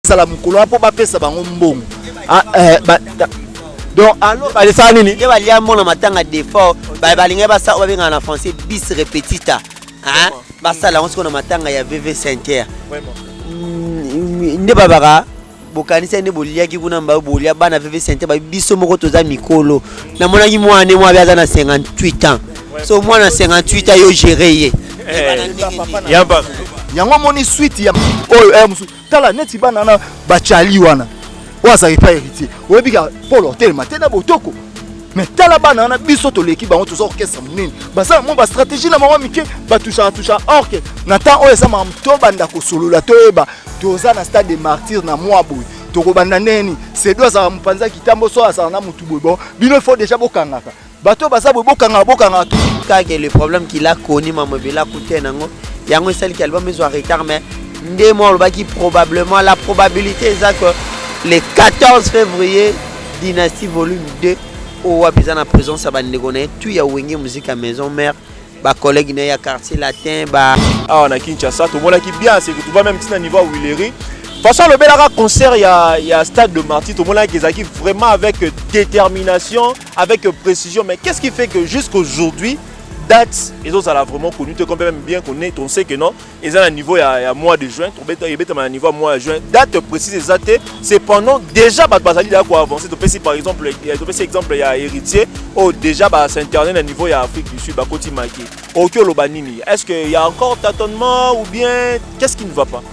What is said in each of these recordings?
basala mokolo wana mpo bapesa bango mbongo ah, eh, donc alors balesaka nini nde balia mona matanga defort balingaki basala oyo babengaka na français bis repetita basala yango sikoyo na matanga ya vv center nde babaka bokanisa nde boliaki kuna mbayo bolia bana vv center babi biso moko toza mikolo namonaki mwana mwa abe aza na 58 ans so mwana 58 ans yo gere ye eh, yango omoni swite ya oyo eh, mosusu tala neti bana na bachali wana oyo azalaki pa héritier oyebi ka polo otelema te na botoko mais tala bana wana biso toleki bango toza orchestre monene baza na mwa bastratégie na bango mike batushaka tushaka orke na temps oyo eza makambo tobanda kosolola toyeba toza na stade de martyr na mwa boye tokobanda ndeni sedo azalaka mopanzi ya kitambo so azala na motu boye bon bino ifo deja bokangaka bato baza boye bokanga bokanga kake le problème qu'il a connu mama bela kute nango yango esali ki album ezwa retard mais nde mwa olobaki probablement la probabilité eza que le 14 février dynastie volume 2 oyo wapi eza na présence ya bandeko na ye tu ya wenge muziki ya maison mère bacollègue na ye ya quartier latin ba awa na kinshasa tomonaki bien c'est que tu vas même tina niveau ya willery façon alobelaka concert ya, ya stade de martyr tomonaki ezalaki vraiment avec détermination avec précision mais qu'est-ce qui fait que jusqu'aujourd'hui date ezozala vraiment connu te comme même bien qu'on est on sait que non eza na niveau ya, ya mois de juin tobeta ebetama na niveau ya mois ya juin date précise eza te cependant déjà bato bazali ya koavance topesi par exemple topesi exemple ya héritier oyo oh, déjà basinternet na niveau ya afrique du sud bakoti maki okoki oloba nini est ce que ya encore tâtonnement ou bien qu'est ce qui ne va pas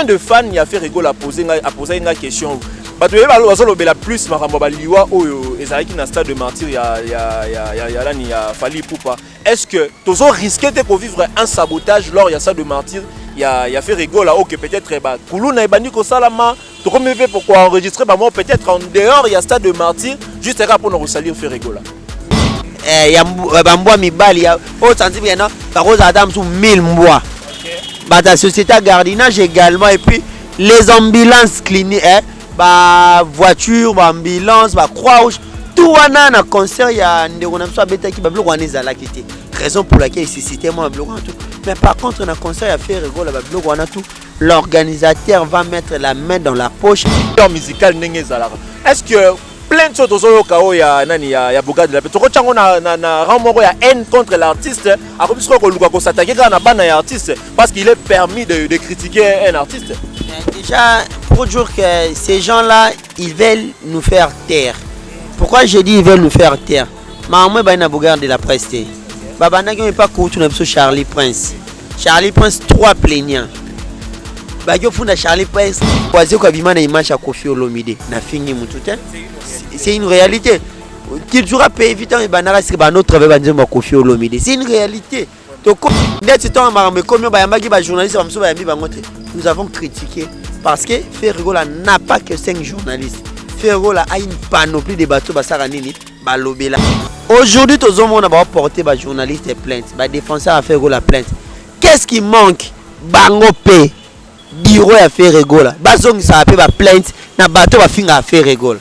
un de fan ya ferre gola apose ngai apose ngai question bato yeba bazolobela plus makambo ya baliwa oyo ezalaki na stade de martyr ya, ya, ya, ya, ya lani ya fali ipupa est ce que tozo risque te kovivre un sabotage lors ya stade de martyr ya, ya ferre gola oyo ke peut-être bakuluna ebandi kosalama tokomi mpe ko enregistrer ba mort peut-être en dehors ya stade de martyr juste kaka mpona kosalir ferregola eh, ya eh, bambwa mibali ya oyo santibi yana bakozala ata mosusu 1000 mbwa bato ya société ya gardinage également et puis les ambulances clinique eh, bavoiture baambulance bacroix rouge tout wana na concert ya ndeko na biso abetaki babiloko wana ezalaki te raison pour laquelle suscite mwa babiloko wana tout mais par contre na concert ya ferre egola babiloko wana tout l'organisateur va mettre la main dans la poche temps musical ndenge ezalaka est ce que plein de choses tozoyoka oyo ya nani ya, ya bogade la pe tokotya yango na, na, na rang moko ya haine contre l'artiste akomi sikoyo koluka kosatake kaka na bana ya artiste parce qu'il est permis de, de critiquer un artiste déjà pour dire que ces gens là Ils veulent nous faire taire. Pourquoi je dis ils veulent nous faire taire Maman ba na bogar de la presse te. Babanda qui pas kutu na biso Charlie Prince. Charlie Prince trois plaignants. Ba yo funda Charlie Prince kwaze kwa bima na image ya Koffi Olomide na fingi mutu te. C'est une réalité. Toujours pays vitant et banara c'est ba notre travail banzemba Koffi Olomide. C'est une réalité. tokomi ndeti ntango makambo ekomi oyo bayambaki bajournaliste bamosusu bayambi bango te nous avons critiqué parce que ferregola n'a pas que 5 journalistes ferregola a une panoplie de bato basaka nini balobela aujourd'hui tozomona baporte bajournaliste ya plainte badefenseur ya ferregola plainte qu'est-ce qui manque bango mpe biro ya ferregola bazongisaka mpe baplainte na bato bafingaka ferregola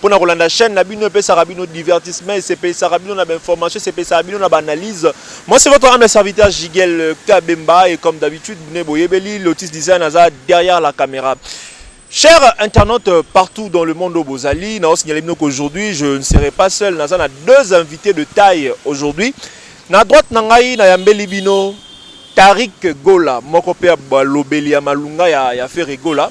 pona kolanda chaîne na bino epesaka bino divertissement esepelisaka bino na bainformation esepelisaka bino na baanalyse moi c'est votre ame serviteur jigel kabemba et comme d'habitude bne boyebeli lotis design aza derrière la caméra Chers internautes euh, partout dans le monde au Bozali, nous signalons qu'aujourd'hui, je ne serai pas seul. Nous avons deux invités de taille aujourd'hui. Na droite, nous avons Nayambeli Bino, Tarik Gola, Mokopé Balobeli, Malunga, ya Ferre Gola.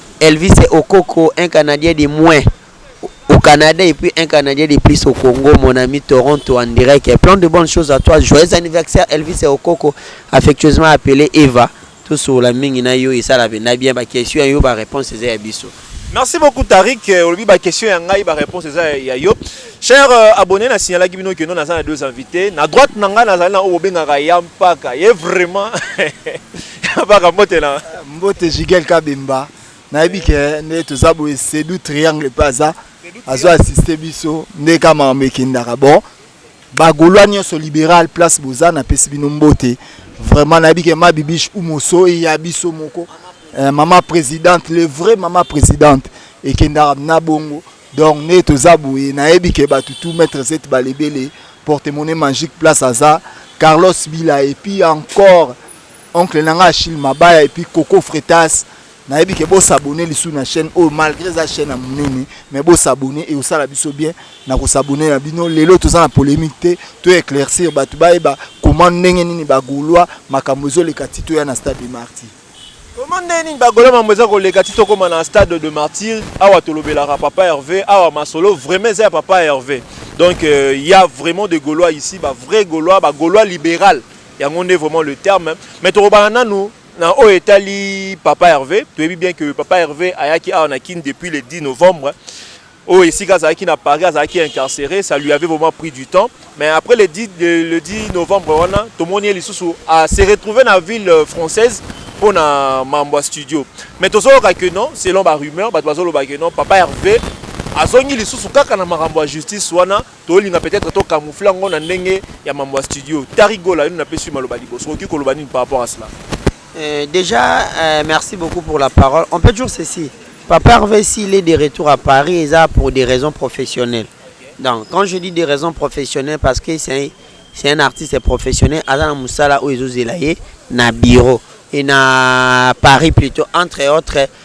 Elvis Okoko un canadien de moins au Canada et puis un canadien de plus au Congo mon ami Toronto en direct et plein de bonnes choses à toi joyeux anniversaire Elvis Okoko affectueusement appelé Eva tosola mingi na yo esala mpenza bien bakestion yo bareponse eza ya biso Merci beaucoup Tariq. Euh, olobi ba question ya ngai ba réponse eza ya yo. Cher euh, abonné na signalaki bino que non naza na deux invités. Na droite na ngai nazali na oyo bobengaka ya mpaka. Ye vraiment Baka mbote na mbote Jigel Kabemba nayebi ke nde toza boye Sedu Triangle mpe aza azo assiste biso nde ka makambo ekendaka bon bagolois nyonso libéral place boza napesi bino mbote vraiment nayebi ke ma bibiche umoso ya biso moko eh, mama présidente le vrai mama présidente ekendaka na bongo donc nde toza boye nayebi ke bato tout maître zete balebele porte monnaie magique place aza carlos bila et puis encore Oncle nanga Achille Mabaya et puis Coco Fretas nayebi ke bo s'abonner lisu na chaîne oyo malgré eza chaîne ya munene mais bo s'abonner et osala biso bien na ko s'abonner na bino lelo toza na polemique te to éclaircir bato bayeba comment ndenge nini ba gaulois makambo ezoleka ti toya na stade de martyr Comment ndenge nini ba gaulois makambo eza koleka ti tokoma na stade de martyr awa tolobelaka papa Hervé awa masolo vraiment eza ya papa Hervé donc euh, il euh, y a vraiment des gaulois ici ba vrais gaulois ba gaulois libéral Yango nde vraiment le terme mais tokobana nanu na oyo etali papa Hervé toyebi bien que papa Hervé ayaki awa na Kin depuis le 10 novembre oyo esika azalaki na Paris azalaki incarcéré ça lui avait vraiment pris du temps mais après le 10, le, le 10 novembre wana tomoni ye lisusu a se retrouver na ville euh, française mpo na mambo ya studio mais tozoloka que non selon barumeur bato bazoloba que non papa Hervé azongi lisusu kaka na makambo ya justice wana tolinga peut-être to camoufler yango na ndenge ya mambo ya studio tari gola yo napesi maloba liboso okoki koloba nini par rapport à cela euh, déjà euh, merci beaucoup pour la parole on peut dire ceci papa Hervé s'il est de retour à Paris eza pour des raisons professionnelles donc quand je dis des raisons professionnelles parce que c'est un, c'est un artiste professionnel aza na mosala oyo ezozela ye na bureau et na Paris plutôt entre autres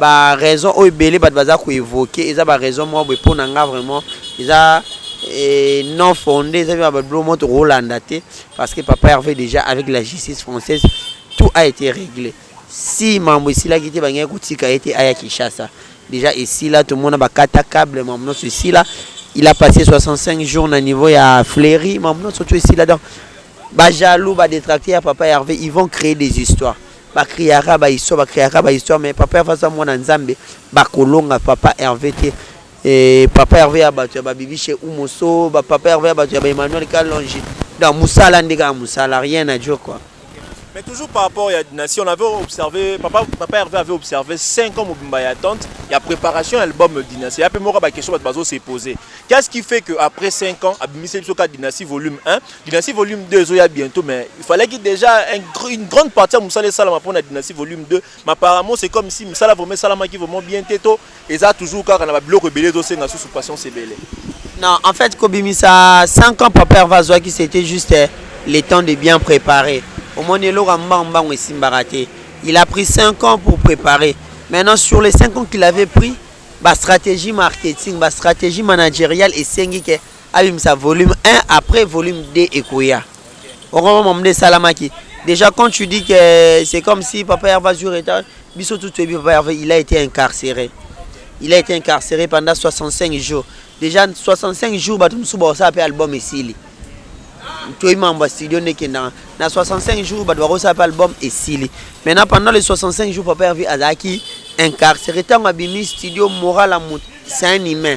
Ba raison oyo ebele bato baza ko evoque eza ba raison moko boye pona nga vraiment eza eh, non fonde eza ba bilo moko tokolanda te parce que papa Herve déjà avec la justice française tout a été réglé si mambo esilaki te bangaki kotika ye te aya Kinshasa déjà esila tomona bakata cable mambo nyonso esila il a passé 65 jours na niveau ya fleuri mambo nyonso tu esila donc ba jaloux ba détracté ya papa Herve ils vont créer des histoires ba criaka ba histoire ba criaka ba histoire mais papa Herve aza mwana nzambe bakolonga papa Herve te eh, papa Herve ya bato ya babibishe umoso ba papa Herve ya bato ya ba Emmanuel Kalonji donc musala nde kaka musala rien à dire quoi Mais toujours par rapport à la dynastie, on avait observé, papa, papa Hervé avait observé 5 ans Mobimba et attente, il y a préparation à l'album Dynastie. Il y a peu de questions qui s'est posées. Qu'est-ce qui fait qu'après 5 ans, Abimissé Bisoka Dynastie volume 1, Dynastie volume 2 ezoya bientôt mais il fallait que déjà un, une grande partie ya mosala esalama mpona Dynastie volume 2 mais apparemment c'est comme si mosala vraiment esalamaki vraiment bien te to eza toujours kaka na babiloko ebele ezosenga susu patience ebele non en fait kobimisa 5 ans papa herve azwaki c'était juste eh, le temps de bien préparer omoni eloko ya mbango mbango esimbaka te il a pris 5 ans pour préparer maintenant sur les 5 ans qu'il avait pris bastratégie marketing bastratégie managériale esengi ke abimisa volume 1 après volume 2 ekoya okomama mama nde esalamaki déjà quand tu dis que c'est comme si papa herve azwi retard biso tout toyebi papa herve il a été incarcéré il a été incarcéré pendant 65 jours déjà 65 jours bato mosusu bakosala mpe album esili toyebi mambo ya studio nde ekendaka na 65 jours bato bakosala mpe album esili maintenant pendant les 65 jours papa herve azalaki incarcéré ntango abimi studio moral ya moto c'est un humain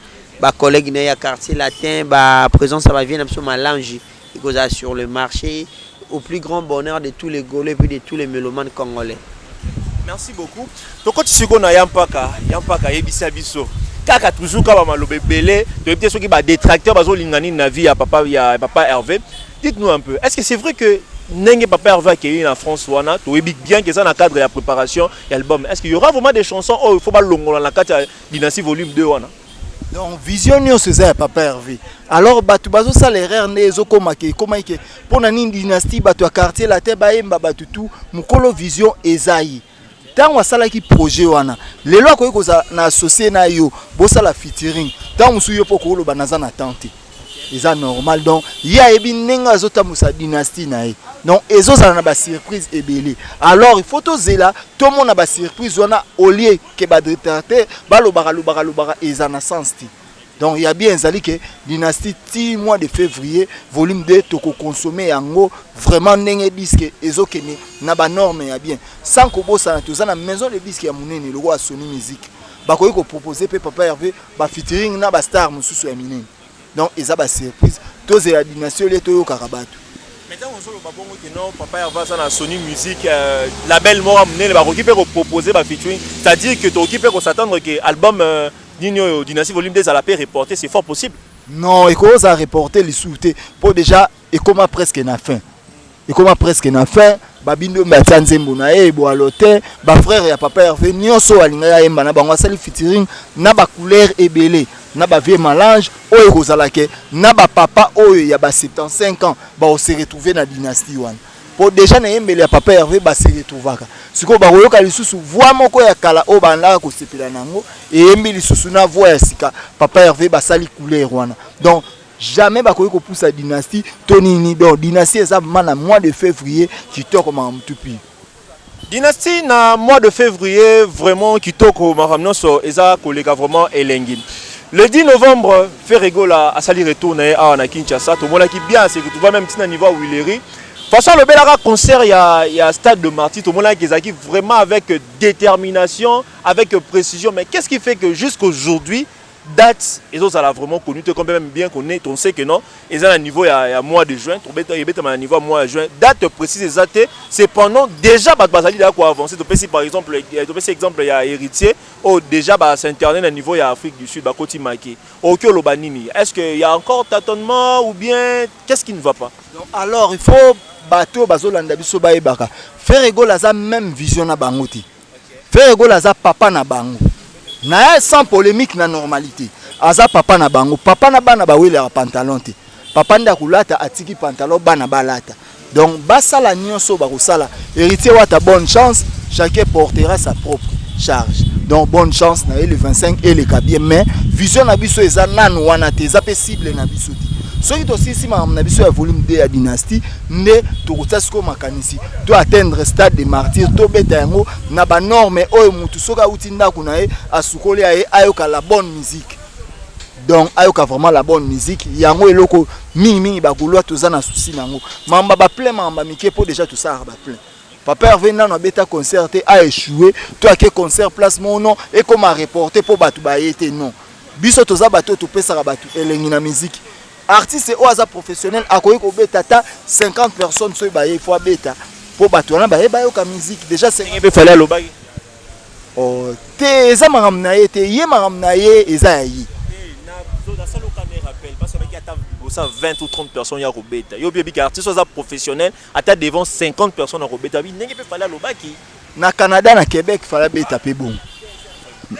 ba collègues na ya quartier latin ba présence ya ba vieux na biso malange ekozala sur le marché au plus grand bonheur de tous les golo et puis de tous les melomanes congolais merci beaucoup tokoti siko na ya mpaka ya mpaka ayebisa biso kaka toujours kaka bamaloba ebele toyebi te soki badetracteur bazolinga nini na vie ya papa ya papa herve dites nous un peu est ce que c'est vrai que ndenge papa herve akei na france wana toyebi bien que eza na cadre ya préparation ya album est ce que y aura vraiment des chansons oyo oh, faut balongola na kati Dynastie volume 2 wana. Donc vision nyonso eza ya papa Hervé. Alors bato bazosala erreur nde ezokoma ke ekomaki ke mpo na nini dynastie bato ya quartier latin bayemba bato tu mokolo vision eza ye ntango asalaki projet wana lelo akoki kozala na associe na yo bosala featuring ntango mosusu yo mpo okoloba naza na temps te eza normal donc ye ayebi ndenge azotambusa dynastie na ye donc ezozala na basurprise ebele alors il faut tozela tomona basurprise wana olie que ba détracteurs balobaka lobaka lobaka eza na sens te donc ya bien ezali ke dynastie ti mois de février volume 2 tokoconsomme yango vraiment ndenge diske ezokende na banorme ya bien sans kobosana toza na maison de diske ya monene lokola sony musique bakoki kopropose mpe papa herve bafitiring na bastar mosusu ya minene donc eza ba surprise tozela dynastie olie toyokaka bato maintenant ozoloba bongo te non papa herve aza na sony musique euh, label moko ya monene bakoki mpe kopropose ba featuring c'est à dire que tokoki mpe kosattendre ke album euh, nini oyo dynastie volume 2 ezala mpe reporte c'est fort possible non ekozala reporte lisusu te mpo déjà ekoma presque na fin ekoma presque na fin babindombe atia nzembo na ye ebwalo te bafrere ya papa herve nyonso oyo alingaki ayemba na bango asali fitiring na bacouleur ebele na bavie malange oyo ekozala ke na bapapa oyo ya ba 75 ans bakose retrouve na dynastie wana mpo deja na eyembeli ya papa herve base retrouvaka sikoyo bakoyoka lisusu voi moko ya kala oyo bandaka kosepela na yango eyembi lisusu na voi ya sika papa herve basali couleur wana donc jamais bakoki kopusa dynastie to nini donc dynastie eza vraiment na mois de février kitoko makambo tupi dynastie na mois de février vraiment kitoko makambo nyonso eza koleka vraiment elengi le 10 novembre ferregola asali retour na ye awa na kinshasa tomonaki bien se retrouva même ntina niveau ya wileri façon alobelaka concert ya, ya stade de martyr tomonaki ezalaki vraiment avec détermination avec précision mais qu'est ce qui fait que jusqu'aujourd'hui Date ezo zala vraiment connu te comme même bien qu'on est on sait que non eza na niveau ya, ya mois de juin tobeta ebetama na niveau ya mois ya juin date précise eza te cependant déjà bato bazali deya koavance topesi par exemple eh, topesi exemple ya héritier oyo oh, déjà basinternet na niveau ya afrique du sud bakoti maki okoki oloba nini est ce que ya encore tâtonnement ou bien qu'est ce qui ne va pas Donc, alors il faut bato oyo bazolanda biso bayebaka ferre egol aza même vision na bango te Ferre Gola aza papa na bango naye sans polemique na normalite aza papa na bango papa na bana bawelaka pantalon te papa nde akolata atiki pantalon bana balata donc basala nyonso bakosala héritier wata bonne chance chacun portera sa propre charge donc bonne chance na ye le 25 eleka bien mais vision na biso eza nanu wana te eza mpe cible na biso te soki tosilisi makambo na biso ya volume 2 ya dynastie nde tokotia sikoyo makanisi to atteindre stade de martyr tobeta yango na banorme oyo motu soki awuti ndako na ye asukoli ya ye ayoka la bonne musique donc ayoka vraiment la bonne musique yango eloko mingimingi bagolois toza na souci na yango mamba baplein mamba mike mpo déjà tosalaka baplein papa herve nano abeta concert te aechoue to ake concert place moko non ekoma reporte mpo bato baye te non biso toza bato oyo topesaka bato elengi na miziki Artiste oyo aza professionnel akoki kobeta ata 50 personnes soki baye il faut abeta mpo bato wana baye bayoka musique déjà mpe fale alobaki oh, te eza makambo na ye te ye makambo na ye eza ya ye osa 20 ou 30 personnes ya kobeta yo oyebi ke artiste oza professionnel ata devant 50 personnes akobeta bi ndenge mpe fale alobaki na canada na quebec fala beta mpe bongo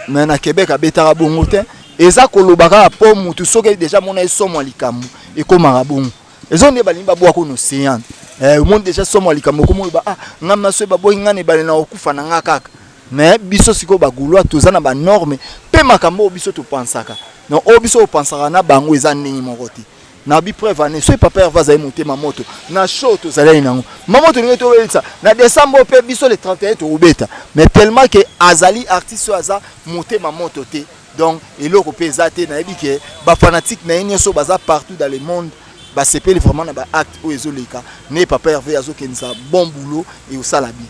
me na quebec abetaka bongo te eza koloba kaka mpo motu soki deja mona ye somo ya likambo ekomaka bongo ezo nde balingi babwaka ono ocean eh, omoni deja somo ya likambo okomi oloba ah ngai maso baboyi ngai na ebale na kokufa na ngai kaka me biso sikoyo bagaulois toza na banorme mpe makambo oyo biso topansaka donc oyo biso opansaka na bango eza ndenge moko te na bi preuve ane soki papa herve azali motema moto na show tozalani nango mama tolingi tobelisa na décembre mpe biso le 31 tokobeta mais tellement ke azali artiste oyo aza motema moto te donc eloko mpe eza te nayebi ke bafanatique na ye nyonso baza partout dans le monde basepeli vraiment na baacte oyo ezoleka ne papa herve azokendisa bon boulot eosala bien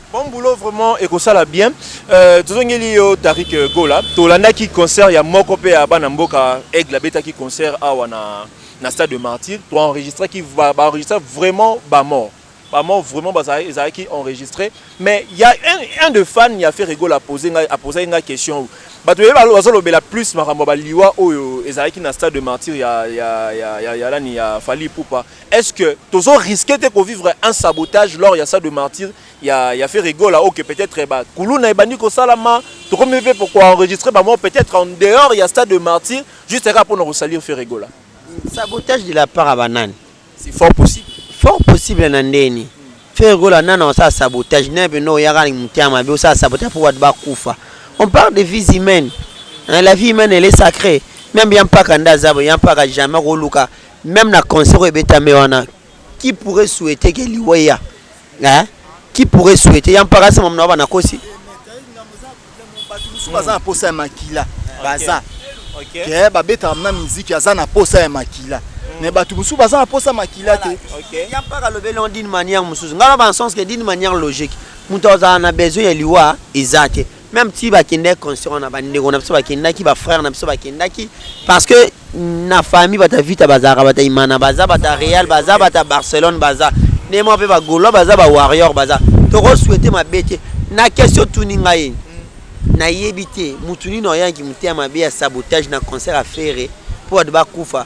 Bon boulot vraiment et ekosala bien euh, tozongeli yo Tarik euh, Gola tolandaki concert ya moko pe ya bana mboka Aigle abetaki concert awa na na stade de Martyr to enregistré qui va ba enregistrer vraiment ba mort ba mort vraiment bazali ezalaki enregistré mais il y a un, un de fan ya Ferre Gola poser nga a poser nga question bato ye bazolobela plus makambo ya baliwa oyo ezalaki na stade de Martyr ya ya ya ya, ya lani ya Fally Ipupa Est-ce que tozo risquer te ko vivre un sabotage lors ya sa de martyr ya ya Ferre Gola ok peut-être eh, ba kuluna ebandi ko salama tokomi pe pour enregistrer ba moi peut-être en dehors ya stade de martyr juste kaka pour nous salir Ferre Gola sabotage de la part à banane c'est fort possible fort possible na ndeni Ferre Gola nana osala sabotage na pe no yaka mutema mabe osala sabotage pour watu bakufa on parle de vies humaines hein, la vie humaine elle est sacrée même ya mpaka nda azabo ya mpaka jamais koluka Meme na concert oyo ebetame wana qui pourrait souhaiter que liwa eya hein? qui pourrait souhaiter ya mpaka sama mna bana kosi bato mosusu baza na posa ya makila baza ke babetaka mna miziki aza na posa ya makila mais bato mosusu baza na posa makila te ya mpaka alobeli yango d'une manière mosusu ngai na bansens ke d'une manière logique moto azala na besoin ya liwa eza te meme ti bakendaki concert wana bandeko na biso bakendaki bafrère na biso bakendaki parce que na famille bata vita bazalaka bata imana baza bata real baza bata barcelone baza nde mwa mpe bagaulois baza bawarrior baza tokoswete mabe te na question tuni ngai nayebi te motu nini oyaki motema mabe ya sabotage na concert ya ferre mpo bato bakufa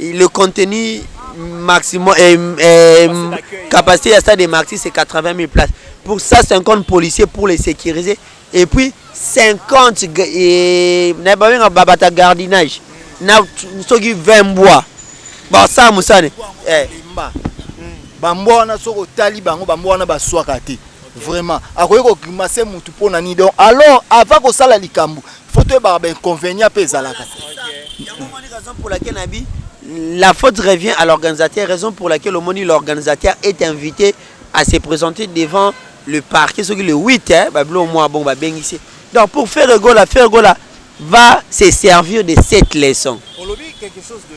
Le contenu maximum, eh, eh, capacité à stade de Marty, c'est 80 000 places. Pour ça, 50 policiers pour les sécuriser. Et puis, 50 et, babata gardinage. Na soki 20 bois. Ba ça musane. Eh. Bambo wana soko tali bango bambo wana baswaka te. Vraiment. Akoki ko grimacer mutu pona ni donc alors avant ko sala likambu faut toyebaka bainconvénient mpe ezalaka yango omoni raison pour laquelle nabi la faute revient à l'organisateur raison pour laquelle omoni l'organisateur est invité à se présenter devant le parquet soki le 8 hein, babilo mwa bongo babengisi donc pour faire gola faire gola va se servir de cette leçon olobi quelque chose de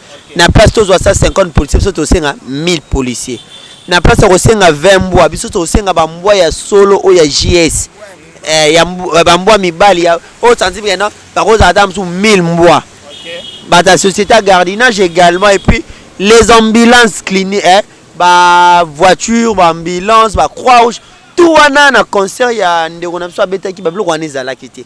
na place tozwa 150 policier biso tosenga 1000 policier na place ya kosenga 20 mbwa biso tosenga bambwa ya solo oyo ya js eh, ya eh, bambwa mibali oyo sanzi bikena bakozala ata mosusu 1000 mbwa bato ya société ya gardinage également et puis les ambulances clinique eh, bavoiture baambulance bacroix rouge tout wana na concert ya ndeko na biso abetaki babiloko wana ezalaki te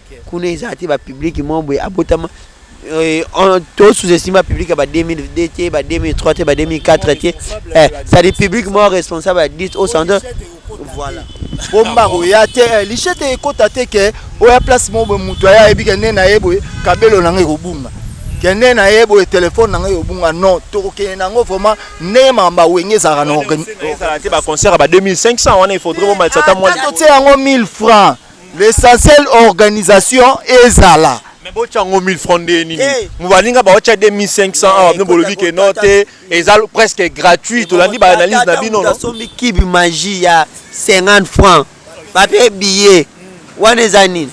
Kuna eza te ba public moko boye abotama euh, on- to sous estime ba public ya ba 2002 te ba 2003 te ba 2004 te eh, c'est-à-dire public moko responsable ya 10 au centre voilà bomba koya te eh, lichete ekota te ke oya place moko boye moto aya ayebi ke nde na ye boye kabelo na ngai ekobunga ke nde na ye boye telefone na ngai ekobunga non tokokende na yango vraiment ndenge mamba wenge ezalaka na organi- ezala te ba concert ya ba 2500 wana il faudrait bomalisa ata mwa Ata totie yango 1000 francs L'essentiel organisation ezala. Mais bo chango 1000 francs nde nini eh. mubalinga ba ocha 2500 awa bino bolobi ke no te eza presque gratuit tolandi ba analyse na bino no sombi kibi magie ya 50 francs ba pe billet wana eza nini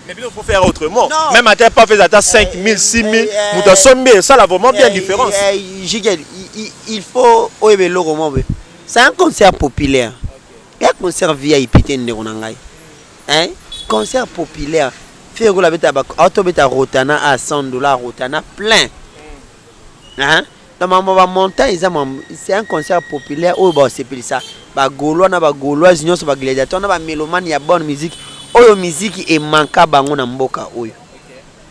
mais bino faut faire autrement non. même ata pas faire ata 5000 6000 mutu asombi esala vraiment bien eh, différence eh, jigel il faut oyeba eloko moko c'est un concert populaire ya concert vip te ndeko na ngai hein concert populaire fille okola beta ba auto beta rotana a 100 dollars rotana plein hein na mambo ba montant eza mambo c'est un concert populaire oyo ba sepelisa ba gaulois na ba gauloise nyonso ba gladiateur na ba melomane ya bonne musique oyo musique emanka bango na mboka oyo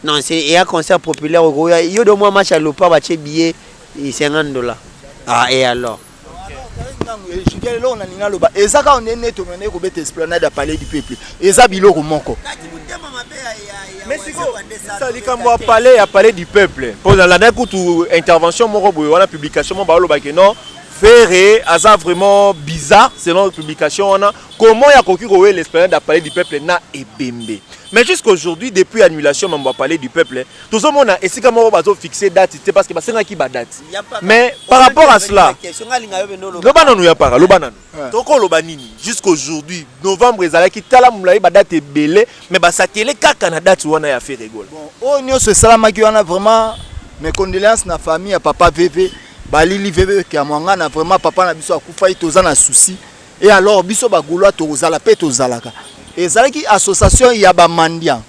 non c'est eya concert populaire okoya yo de moi match ya lopa batie billet 50 dollars ah et alors jugel eloko na linga loba eza kaka nde neti omandaki kobeta esplanade ya palais du peuple eza biloko moko sa likambo ya palais ya palais du peuple mpo nalandaki kutu intervention moko boye wana publication moko baolobaki non ferre aza vraiment bizarre selon publication wana comment ya koki kowela esplanade ya palais du peuple na ebembe mais jusqu'aujourd'hui depuis annulation mambo ya palais du peuple tozomona esika moko bazo fixe date te parce que basengaki ba date mais par rapport à cela loba nanu ya para loba nanu tokoloba nini jusqu'aujourd'hui novembre ezalaki tala molai badate ebele mais basatele kaka na date wana ya feregola oyo oh, nyonso esalamaki wana vraiment mes condoléances na famille ya papa veve balili veve kiamwangana vraiment papa na biso akufaki toza na souci e alors biso bagolois tokozala mpe tozalaka ezalaki association ya bamandian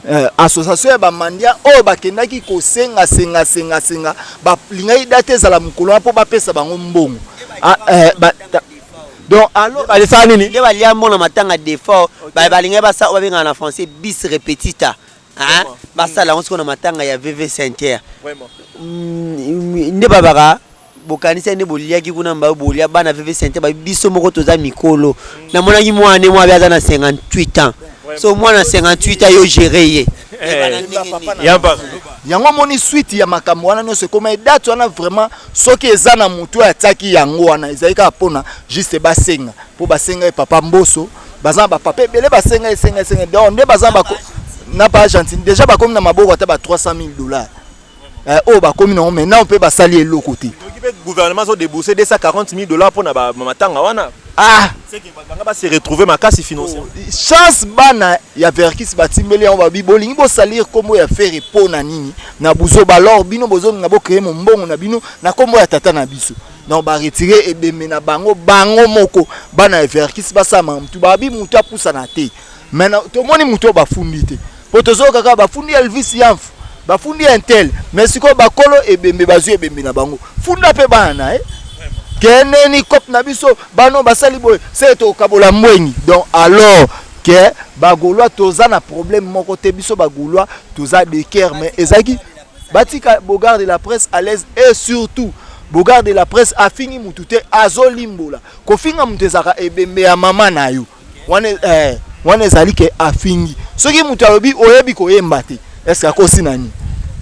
Euh, association ya bamandia oyo bakendaki kosenga senga senga senga balingaki date ezala mokolo wana mpo bapesa bango mbongo ah, euh, donc alors balesaka nini nde balia mbona matanga defort balingaki basala oyo babengaka na français bis repetita basala yango sikoyo na matanga ya vv center mm, mm, nde babaka bokanisi ane boliaki kuna mbayo bolia bana veve sente babi biso moko toza mikolo namonaki mwana mwa abe aza na 58 ans so mwana 58 ans yo gere ye eh, yango omoni swite ya makambo wana nyonso ekoma edate wana vraiment soki eza na motu oyo atiaki yango wana ezali kaka mpona juste basenga mpo basenga ye papa mboso baza na bapapa ebele basenga esenga esenga donc nde baza na baargentine déjà bakomi na maboko ata ba 300 000 dollars eh, oyo bakomi nango mai nao mpe basali eloko te gouvernement azo debourse 240 000 dollars mpo na matanga wana ah banga base retrouve makasi financièrement oh, chance bana ya verkis batimbeli yango babi bolingi bosalire nkombo ya fere mpo na nini na buzoba lor bino bozolinga bocreye mombongo na bino na nkombo ya tata na biso donc baretire ebembe na bango bango moko bana ya verkis basala makambo tu babi moto apusana te mais na tomoni moto oyo bafundi te mpo tozoyoka kaka bafundi elvis yamfu bafundi intel mais sikoyo bakolo ebembe bazwi ebembe na bango funda mpe bana na ye keneni cop na biso bano basali boye se tokabola mbwengi donc alors ke bagaulois toza na problème moko te biso bagaulois toza de ker mais ezalaki batika bogard de la presse à l'aise et surtout bogard de la presse afingi motu te azolimbola kofinga motu ezalaka ebembe ya mama na yo wana eh, wana ezali ke afingi soki moto alobi oyebi koyemba te eske akosi nani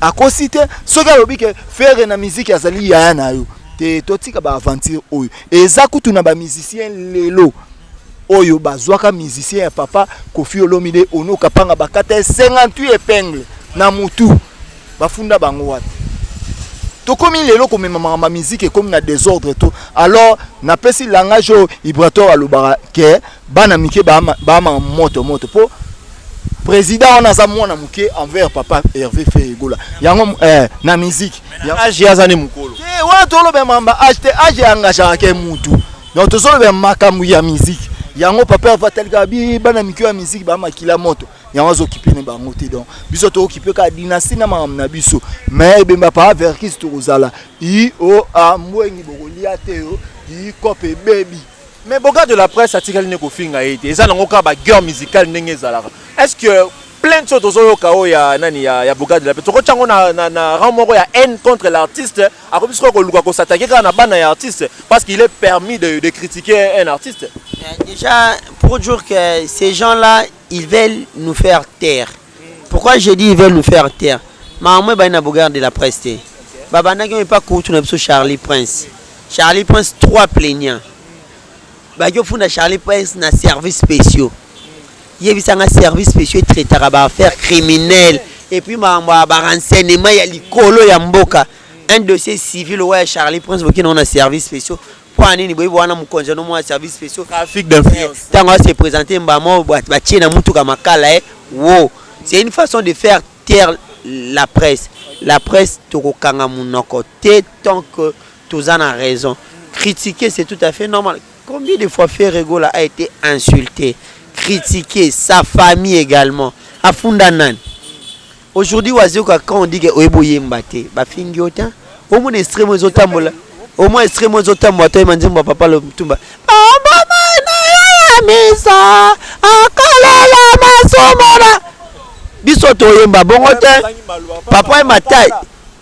akosi te soki alobi ke fere na miziki azali yaya na yo te totika baaventure oyo eza kutu na bamusicien lelo oyo bazwaka musicien ya papa kofi olomide ono kapanga bakata ye 58 epingle na motu Bafunda bango wapi? tokomi lelo komema makambo ya miziki ekomi na desordre to alors napesi langage oyo ibrator alobaka ke bana mike baamaka moto moto mpo président wana aza mwana moke envers papa herve feegola yango eh, na miziki age aza ne mokolo eh, wana tolobela makambo ya age te age eyangageaka ke mutu donc tozolobela makambo ya miziki yango papa herve atalikaka bi bana mike ya miziki baamakila moto yango azo kipe ne bango te donc biso to kipe ka dynastie na makambo na biso mais ebemba pa verkis tokozala i o a mbwengi bokolia te yo i kope ebebi mais boka de la presse atikali nde kofinga ye te eza nango kaka baguerre musicale ndenge ezalaka est ce que plainte oyo tozoyoka oyo ya nani ya, ya boka de la presse tokotya yango na, na, na rang moko ya haine contre l'artiste akomi sikoyo koluka kosatake kaka na bana ya artiste parce qu'il est permis de, de critiquer un artiste euh, déjà pour dire que ces gens là ils veulent nous faire taire pourquoi je dis ils veulent nous faire taire makambo ebandi na bogarde de la presse te babandaki oyo epa kutu na biso charlie prince charlie prince trois plaignant baki ofunda charlie prince na service spéciaux yebisanga service spéciaux etraitaka baaffaire criminel epuis makambo ya barenseignement ya likolo ya mboka un dossier civil oyo ya charlie prince boki nango na service spéciaux Pona nini boyebi wana mokonzi no mwa service spéciaux trafic d'influence eh, tango a se présenter mbamo ba tie na mutuka makala eh wo c'est une façon de faire taire la presse la presse tokokanga munoko te tant que toza na raison critiquer c'est tout à fait normal combien de fois Ferre Gola a été insulté critiqué sa famille également afunda nani Aujourd'hui wazioka quand on dit que oyebi oyemba te bafingi yo te omona extreme ezotambola omona extreme ezotambola to oyema nzembo ya papa lomutumba bambama nayoya misa akalela masomona biso toyemba bongo te papa ye matai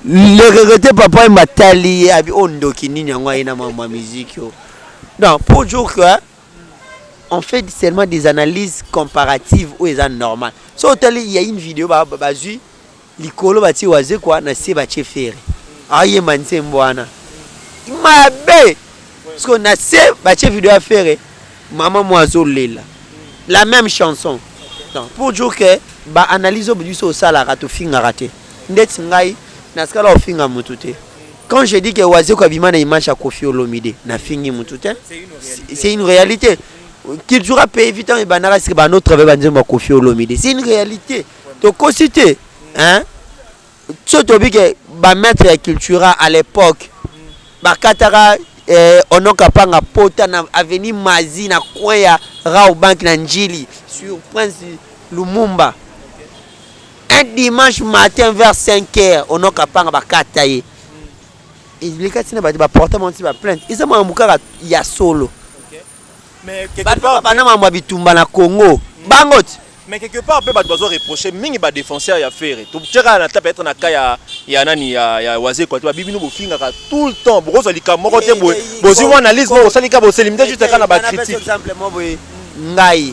le regrete papa ye matali ye abi oyo ndoki nini yango aye na mambo ya miziki oyo donc pour jour que on fait seulement des analyses comparatives oyo eza normal so otali ya une video bazwi likolo batie wazekwa na se batie fere ayemba nzembo wana mabe parceke na se batie video ya fere mama mwa azolela la même chanson donc pour dire que baanalyse oyo biso osalaka tofingaka te ndeti ngai nasikala ofinga motu te Quand je dis que Wazekwa bima na image ya Kofi Olomide, na fingi mutu te. C'est une réalité. Qu'il jouera pays vite et banara c'est ba notre ba nzembo ya Kofi Olomide. C'est une réalité. To kosite hein. Tso to bike ba maître ya cultura à l'époque. Ba katara eh, ono kapanga pota na avenue Mazi na coin ya Rao Bank na Njili sur Prince Lumumba. Un dimanche matin vers 5 heures, on a kapanga ba kata ye. Il kati na ba ba porter mon ba plainte. Ils ont mukaka ya solo. Okay. Mais quelque part bana mambo bitumba na Congo. Mm. Bangot. Mais quelque part pe ba doit reprocher mingi ba défenseur ya Ferre. Tu tcheka na tape être na cas ya ya nani ya ya waze quoi. Tu ba bibino bofinga ka tout le temps. Boko zo lika moko te boye. Bozi analyse moko salika bo selimite juste kana ba critique. Par exemple moi boye ngai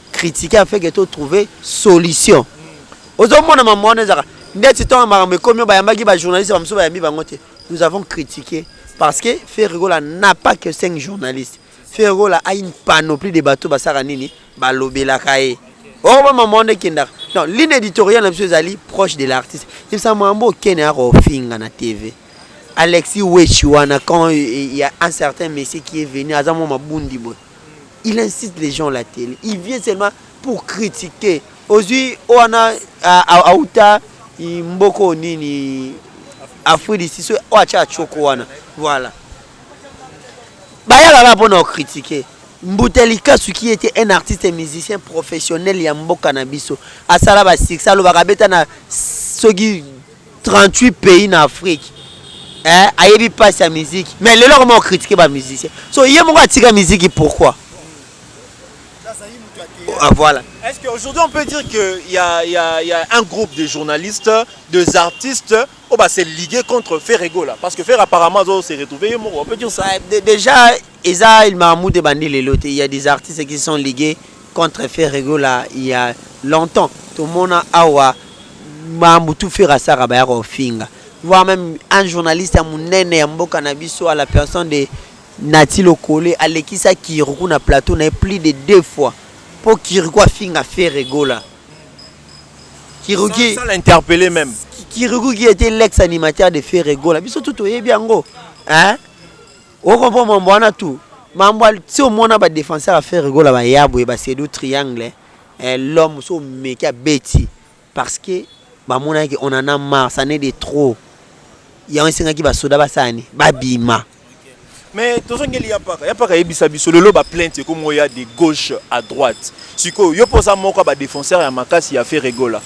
critique afin que to trouver solution ozomona mama wana ezaka ndeti ntongo makambo ekomi bayambaki bajournaliste bamosusu bayambi bango te nous avons critiqué parce que ferregola n'a pas que 5 journalistes ferregola a une panoplie de bateau basaka nini balobelaka ye oko ba mama wana ekendaka non ligne éditoriale na biso ezali proche de l'artiste ebisa mambo okende yaka ofinga na tv alexis wechi wana quand il y a un certain monsieur qui est venu aza mwa mabundi boye il insiste les gens la télé il vient seulement pour critiquer ozui wana auta mboko nini afrique du sud so oyo atya achoko wana voilà bayaka kaka mpo na okritike mbuta likasu ki ete un artiste musicien professionnel ya mboka na biso asala basuccès alobaka abeta na soki 38 pays na afrique eh, ayebi mpasi ya miziki mais lelo akoma kokritike bamusicien so ye moko atika miziki pourquoi ah, voilà. Est-ce qu'aujourd'hui on peut dire qu'il y, y, y, a un groupe de journalistes, des artistes, oh bah c'est ligué contre Ferrego là Parce que Ferre apparemment s'est retrouvé, on peut dire ça. Déjà, Eza il Mahmoud et Bandi Lelote, il y a des artistes qui sont ligués contre ferre gola ya longtemps tomona awa ba mbutu ferre asaka baya kofinga voire même un journaliste ya munene ya mboka na biso à la personne de nati lokole alekisa kiriku na plateau na ye plus de deux fois mpo kiriku afinga ferre gola kiruki sans l'interpeller même kiriku qui était l'ex animateur de ferre gola biso tout toyebi yango hein O comprend mambo wana tout. Mambo si omona ba defenseur ya Ferre Gola ba Yabwe ba Sedu Triangle eh, l'homme so meki abeti parce que ba mona que on en a marre, ça n'est de trop. Yango esengaki ba soda basala ni babima. mais tozongeli ya mpaka ya mpaka ayebisa biso lelo baplainte ekomi oya de gauche à droite sikoyo yo mpo oza moko ya badefenseur ya makasi ya ferregola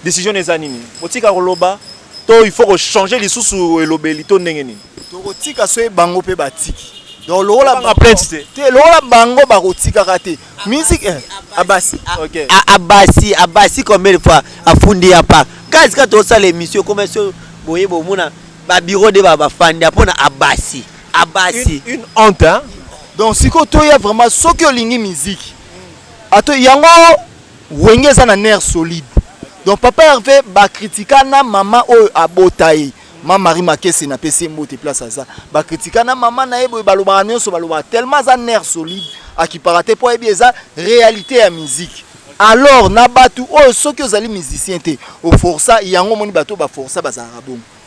décision eza nini otika koloba To il faut ko changer lisusu elobeli to ndenge nini? Tokotika soki bango pe batiki. Donc lokola ba plainte te. Te lokola bango bakotikaka te. Musique eh, abasi. Okay. A- abasi abasi combien de fois afundi ya pa gaz ka tosala émission ekoma so boye bomona babiro de ba- bafandi ya mpona abasi abasi Une, une honte hein. Donc siko toya vraiment soki olingi musique. Ato yango Wenge eza na nerf solide donc papa Herve ba critika na maman oyo abota ye ma Marie Makese na pesi mbote place aza ba critika na maman na ye boye balobaka nionso balobaka tellement aza nerf solide akipaka te po ayebi eza realite ya musique alors na batu oyo soki ozali musicien te oforsa yango omoni batu oyo baforsa bazalaka bongo.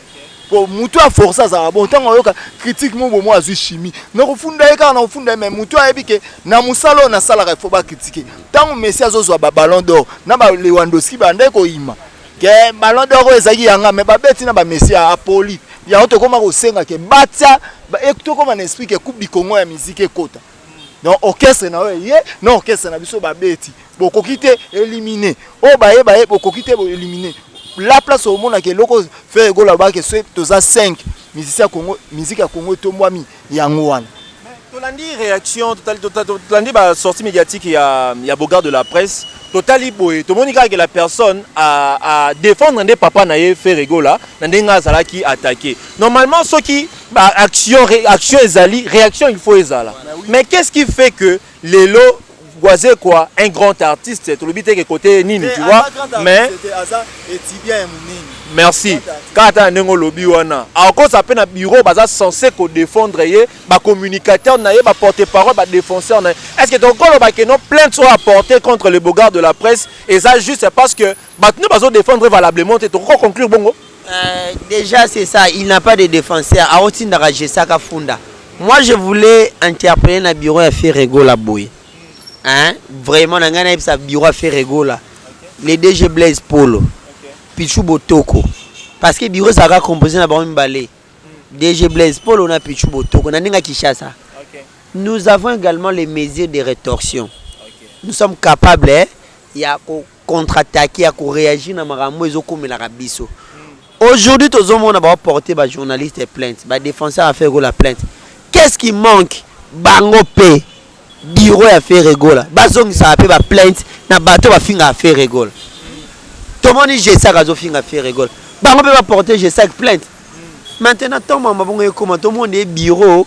po mutu a force azala bon ntango ayoka critique mo bomo azwi chimie na kofunda ye kaka na kofunda ye mais mutu ayebi ke na mosala oyo nasalaka il faut ba critique ntango messi azozwa ba ballon d'or na ba lewandoski bandaki koyima ke ballon d'or oyo ezalaki yanga mais babeti na ba messi ya apoli yango tokoma kosenga ke batia tokoma na esprit ke coupe du congo ya musique ekota donc orchestre na yo eye na orchestre na biso babeti bokoki te éliminer oyo baye baye bokoki te boéliminer la place omonaka eloko frère egola abaki so toza 5 musicien ya congo musique ya congo etombwami yango wana tolandi réaction tolandi basortie médiatique ya, ya bogard de la presse totali boye tomoni kaka ke la personne a, a défendre nde papa na ye ferre egola na ndenge azalaki attaqué normalement soki ba action action ezali réaction il faut ezala mais qu'est-ce qui fait que lelo Boisé quoi un grand artiste tolobi te que côté nini tu vois mais merci kata ndenge olobi wana akosa mpe na bureau baza censé kodefendre ye bacommunicateur na ye baporte parole badefenseur na ye est ce que tokoloba ke no plainte oyo aporte contre le beaugard de la presse eza juste parce que Bato nde bazo defendre valablement te tokoki ko conclure bongo. Euh, déjà c'est ça, il n'a pas de défenseur. Aotindaka Jesaka Funda. Moi je voulais interpeller na bureau ya Ferrego la boye. Hein? Vraiment na ngai na yebisa bureau ya Ferrego la. Le DG Blaise Polo. Pichu Botoko. Parce que bureau ezalaka composé na bango mibale. DG Blaise Polo na Pichu Botoko na ndenge Kinshasa. Nous avons également les mesures de rétorsion. Nous sommes capables eh, ya ko contre attaque ya ko reagir na makambo ezo komelaka biso aujourd'hui tozo mona ba porter ba journaliste plainte ba défenseur ya ferre gola plainte qu'est ce qui manque bango pe bureau ya ferre gola bazongisaka pe ba plainte na bato bafingaka ferre gola tomoni gesak azofinga ferre gola bango pe ba porter gesak plainte maintenant ntango makambo bongo ekoma tomona ye bureau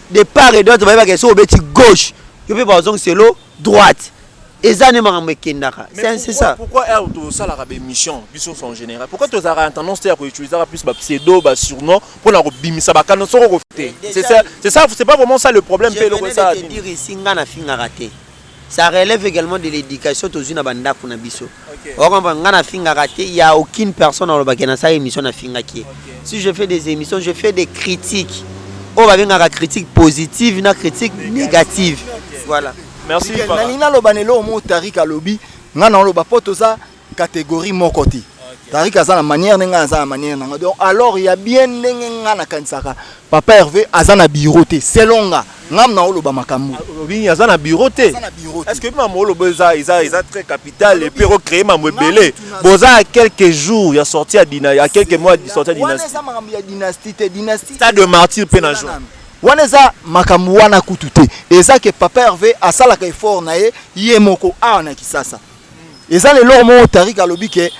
de part et d'autre bayebaka soki obeti gauche yo mpe bazongisa elo droite eza nde makambo ekendaka c'est ça pourquoi heure tosalaka baémission biso en général pourquoi tozalaka na tendance te ya koutilisaka plus bapseudo basurnom mpo na kobimisa bakano soko kofi te c'est ça c'est pas vraiment ça le problème mpe eloko esa dire esi nga nafingaka te Ça relève egalement de l'education tozui na ba ndaku na biso. Ozo comprendre nga na fingaka te, il y a aucune personne aloba ke na sala emission na fingaki ye. Si je fais des emissions, je fais des critiques. Oyo ba bengaka critique positive na critique negative. Voilà. Merci. Nalingi naloba na eloko moko Tariq alobi, nga naoloba po toza catégorie moko te Tariq aza na manière ndenge aza na manière nanga donc alors ya bien ndenge nga nakanisaka papa Hervé aza na bureau te selon nga ngam na oloba makambo obini aza na bureau te est-ce que mama oloba eza eza eza très capital et puis ko créer mambo ebele boza à quelques jours ya sortie ya dina ya quelques mois de sortie ya dynastie eza makambo ya dynastie te dynastie stade de martyr pe na joie wana eza makambo wana kutu te eza ke papa Hervé asalaka effort na ye ye moko awa na Kisasa eza na eloko moko tarika alobi ke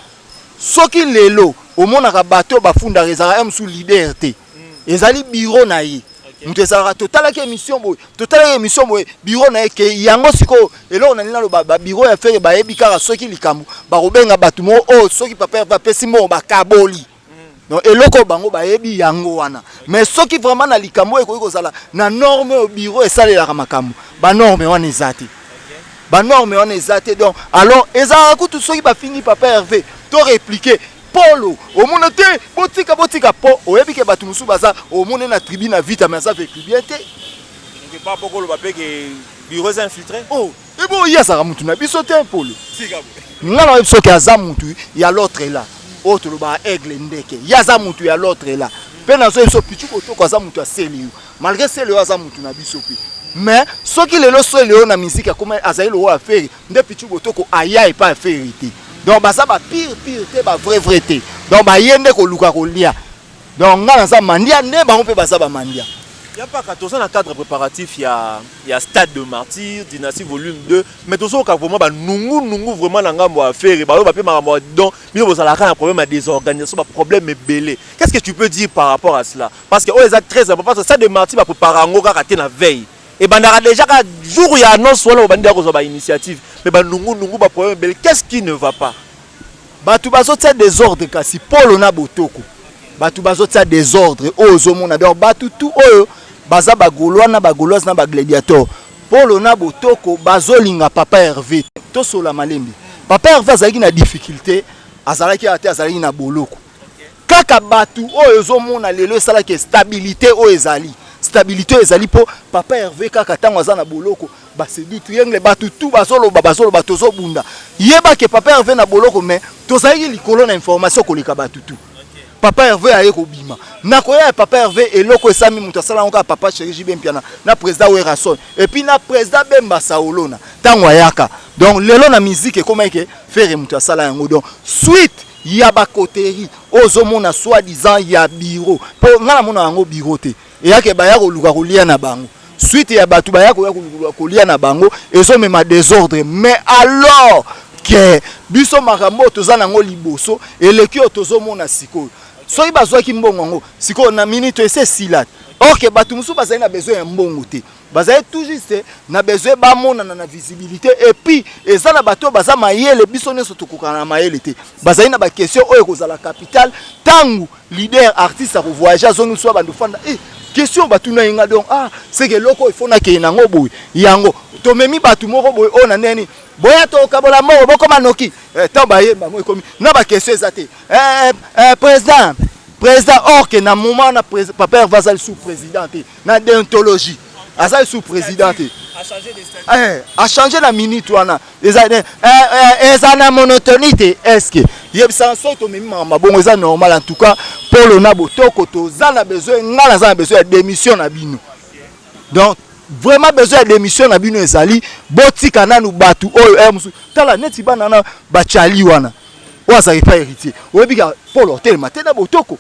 soki lelo omonaka bato oyo bafundaka ezalaka ya mosusu leader te ezali biro na ye moto ezalaka totalaki émission boye totalaki émission boye biro na ye ke yango sikoyo eloko na nini naloba babiro ya fere bayebi kaka soki likambo bakobenga bato moko oyo oh, soki papa apesi mbongo bakaboli non eloko bango bayebi yango wana mais soki vraiment na likambo oyo ekoki kozala na norme oyo bureau esalelaka makambo banorme wana eza te banorme wana eza te donc alors ezalaka kutu soki bafingi papa herve to replike polo omona te botika botika po oyebi ke bato mosusu baza omone na tribu na vita mais aza vekubien te bureau infiltré oh Ebe oyo ye azalaka mutu na biso te polo. Nga na biso ke aza mutu ya l'autre là. Oyo oh, tolobaka aigle ndeke. Ye aza mutu ya l'autre là. Pe na zo biso pichu kotoko aza mutu ya Celio. Malgré Celio aza mutu na biso pe. Mais soki lelo Celio na musique akoma azali lokola Ferre nde pichu kotoko aya epa Ferre te. Donc baza ba pire pire te ba vrai vrai te. Donc baye nde koluka kolia. Donc nga naza mandia nde bango mpe baza ba mandia. Ya paka toza na cadre préparatif ya ya stade de martyr dynastie volume 2 mais tozo ka vraiment ba nungu nungu vraiment na ngambo ya ferre ba yo ba pe makambo ya don bino bozala ka na problème ya désorganisation ba problème ebele qu'est-ce que tu peux dire par rapport à cela parce que oyo eza très important parce que stade de martyr ba prépare yango kaka te na veille ebandaka déjà ka jour ya annonce wana obandi ya kozwa ba initiative mais ba nungu nungu ba problème ebele qu'est-ce qui ne va pas batu bazotia desordre kasi polo na botoko batu bazotia desordre oyo ozomona donc batu tu oyo baza bagolois na bagoloise na bagladiator polo na botoko bazolinga papa herve tosola malembe papa herve azalaki na difficulté azalaki ate azalaki na boloko kaka batu oyo ezomona lelo esalaki stabilité oyo ezali stabilité ezali mpo papa herve kaka ntango aza na boloko basedutu yengle bato tu bazoloba bazoloba tozobunda yeba ke papa herve na boloko mais tozalaki likolo na information koleka bato tu papa herve aye kobima nakoya ya papa herve eloko esami moto asala yango kaka papa cheri jb mpiana na président werason epuis na président bemba saolona ntango ayaka donc lelo na miziki ekomaki ke fere moto asala yango donc suite ya ba coterie oyo ozomona soit disant ya bureau mpo ngai namona yango bureau te eyake baya koluka kolia na bango suite ya bato baya koya koluka kolia na bango ezomema desordre mais alors ke biso makambo oyo toza nango liboso eleki oyo tozomona sikoyo soki bazwaki mbongo yango sikoyo na minute ese esila orke bato mosusu bazali na besoin ya mbongo te bazali tout juste na besoin bamonana na visibilité et puis eza na bato oyo baza mayele biso nyonso tokokana na mayele te bazali na baquestion oyo ekozala capital ntango leader artiste akovoyage azongi biso abandi ofanda e eh, question batuna ye nga donc ah seke eloko ifo nakei nango boye yango tomemi bato moko boye oyo na ndenge nini boya tokabola mbongo bokoma noki eh, ntango baye bango ekomi na baquestion eza te eh, président président or que na moment na papa herve azali sous président te na deontologie aza lisusu président te eh, achange na minute wana eza eh, eh, na monotonie te eske yebisaka soki tomemi makambo mabongo eza normal en tout cas polo na botoko toza na besoin ngai naza na besoin ya démission na bino donc vraiment besoin ya démission na bino ezali botika nanu bato oyo eh, mosusu tala neti bana na bacali wana oyo azalaki pa héritier oyebika polo otelema te na botoko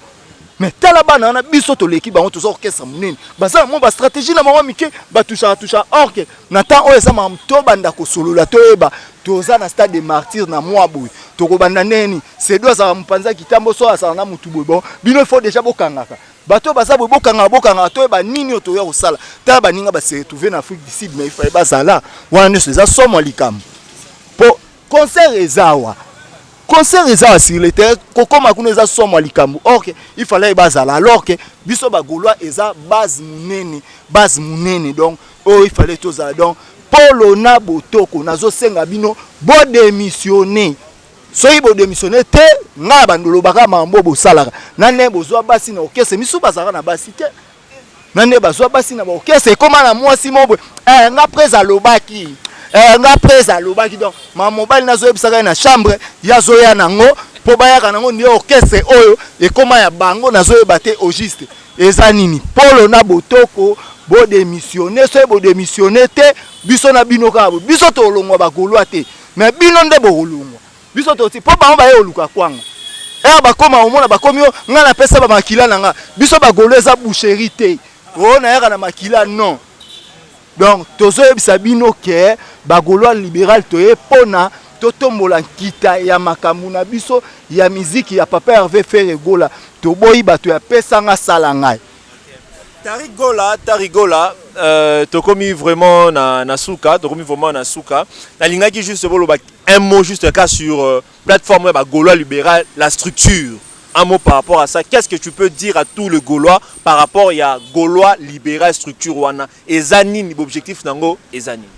mais tala bana wana biso toleki bango toza orchestre monene baza mo bastratégie na bango mike batushaka tushaka orke na temps oyo eza makambo tobanda kosolola toyeba toza na stade de martyr na mwa boye tokobanda ndenge nini sedo azalaka mopanza kitambo so azala na motu boye bon bino fo deja bokangaka bato oyo baza boye bokangaka bokangaka toyeba nini oyo toya kosala tala baninga base retrouve na afrique du sud mais ifaye bazala wana nyonso eza somo ya likambo mpo concert eza awa concert eza awa sur le terrain kokoma kuna eza somo ya likambo or ke il fallait bazala alors ke biso bagaulois eza base monene base monene donc oyo oh, il fallait tozala donc polo na botoko nazosenga bino bodemissione soki bodemissione te ngai bandolobaka mambo bosalaka nane bozwa basi na okese misu bazalaka na basi te na nde bazwa basi na baokese ekoma na mwasi moko boye eh, nga prese alobaki eh, nga prese alobaki donc mama mobali nazoyebisaka ye na chambre ye azoya nango mpo bayaka nango nde orchestre oyo ekoma ya bango nazoyeba te au juste eza nini polo na botoko bodemissione soki bodemissione te biso na bino kaka biso tolongwa bagolwa te me bino nde bokolongwa biso toti po bango baye oluka kwanga ere eh, bakoma omona bakomi yo ngai napesa bamakila na nga biso bagolo eza boucherie te o oh, nayaka na makila non donc tozoyebisa bino ke bagolois libéral toye mpona totombola nkita ya makambo na biso ya miziki ya papa herve ferre gola toboyi bato ya pesanga sala ngai Tariq Gola, Tariq Gola, euh, tokomi vraiment na, na suka, tokomi vraiment na suka. Nalingaki juste boloba un mot juste cas sur euh, plateforme ya ba Gaulois libéral, la structure. Un mot par rapport à ça. Qu'est-ce que tu peux dire à tous les Gaulois par rapport ya Gaulois libéral structure wana? Eza nini objectif nango? Eza nini?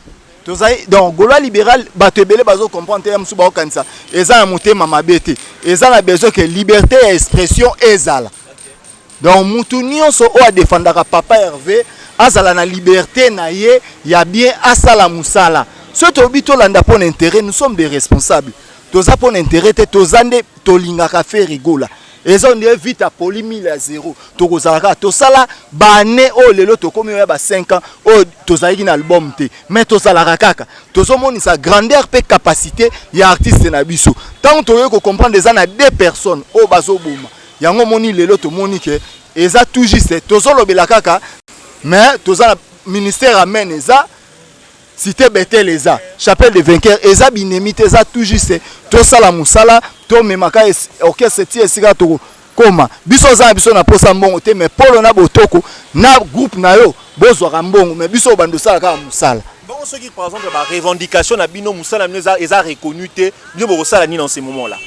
tozali donc golois libéral bato ebele bazo comprendre te ya mosusu baokanisa eza na motema mabe te eza na besoin ke liberté ya expression ezala Donc mutu nionso oyo adefendaka papa Herve azala na liberte na ye ya bien asala musala. Soki tolobi tolanda mpo na interet, nous sommes des responsables. Toza mpo na interet te, toza nde tolingaka Ferre Gola. eza ondire vita poli 1000 ya zero tokozala kaka tosala baane oyo lelo tokomi oya ba 5 ans oyo tozalaki na album te mais tozalaka kaka tozomonisa grandeur mpe capacité ya artiste na biso ntango toyei kocomprendre eza na deux personnes oyo bazoboma Yango moni lelo tomoni ke eza tout juste tozolobela kaka mais toza na ministère amen eza cité betel eza chapelle de vainqueur eza binemi te eza tout juste tosala mosala tomemaka orchestre ti esika tokokoma biso oza na biso na mposa mbongo te mais polo na botoko na groupe na yo bozwaka mbongo mais biso obanda osala kaka mosala bongo soki par exemple ba revendication na bino mosala na bino eza reconnu te bino bokosala nini en ce moment là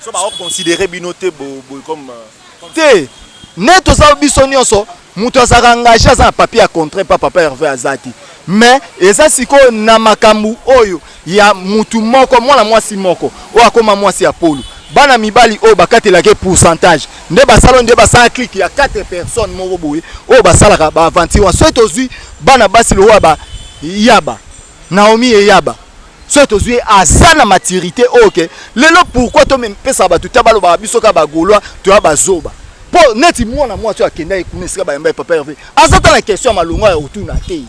So ba o considere bino te bo boye comme Te! Nde toza biso nionso mutu azalaka engage aza na papier ya contrat epa papa Herve aza te mais eza sikoyo na makambu oyo ya mutu moko mwana mwasi moko oyo akoma mwasi ya polu bana mibali oyo bakatelaka ye pourcentage nde basala oyo nde basala clique ya quatre personnes moko boye oyo basalaka ba aventure wana soki tozui bana basi lokola ba yaba Naomi eyaba soki tozwi ye aza na maturité oyo oh, ke lelo pourquoi tomepesaka bato ta balobaka biso kaka bagaulois toya bazoba mpo neti mwana mwasi oyo akendaki kuna esika bayamba ye papa herve aza ta na question ya malonga ya kotuna te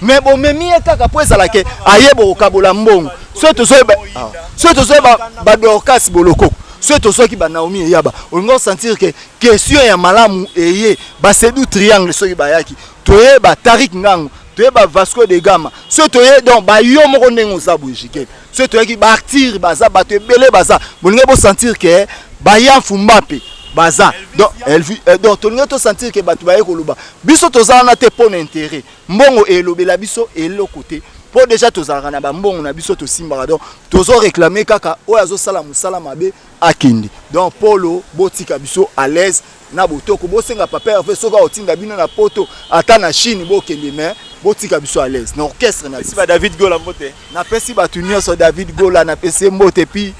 me bomemi ye kaka mpo ezala ke aye bokokabola mbongo soki tozoyeba ah, soki tozoyeba badorkas bolokoko soki tozwaki banaomi eyaba olingi osentir ke question ya malamu eye basedu triangle soki bayaki toyeba tarik ngango toyeba vasco de gama so toye donc bayo moko ndenge oza boye jike so toyaki baartire baza bato ebele baza bolingai bosentir ke baya mfumba mpe baza donc euh, tolingai tosentir ke bato baye koloba biso toza wana te mpo na intere mbongo elobela biso eloko te mpo deja tozalaka na bambongo na biso tosimbaka donc tozo réclame kaka oyo azosala mosala mabe akende donc polo botika biso à l'aise na botoko bosenga papa herve soki akotinda bino na poto ata na chine bokende mais botika biso à l'aise na orchestre na biso david gola mbote napesi bato nyonso david gola napesi ye mbote puis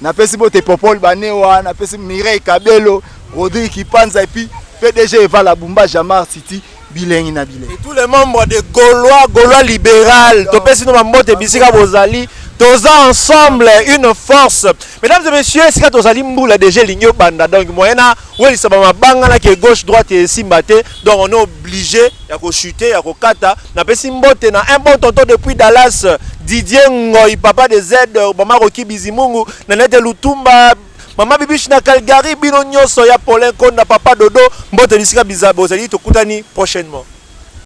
napesi mbote popol banewa napesi mireille kabelo rodrigue kipanza epuis pdg evala bumba jamar city bilengi na bilengi. Et tous les membres de Gaulois, Gaulois libéral, topesi no mambote bisika bozali, toza ensemble une force. Mesdames et messieurs, esika tozali mbula déjà elingi obanda donc moyen na welisa ba mabanga na ke gauche droite et esimba te donc on est obligé ya ko chuter ya ko kata. Napesi mbote na un bon tonton depuis Dallas Didier Ngoy papa de Z Bomako Kibizimungu na nete Lutumba Mama Bibiche na Calgary, bino nyoso ya Paulin Konda, Papa Dodo, mbote bisika biza bozali, tokutani prochainement.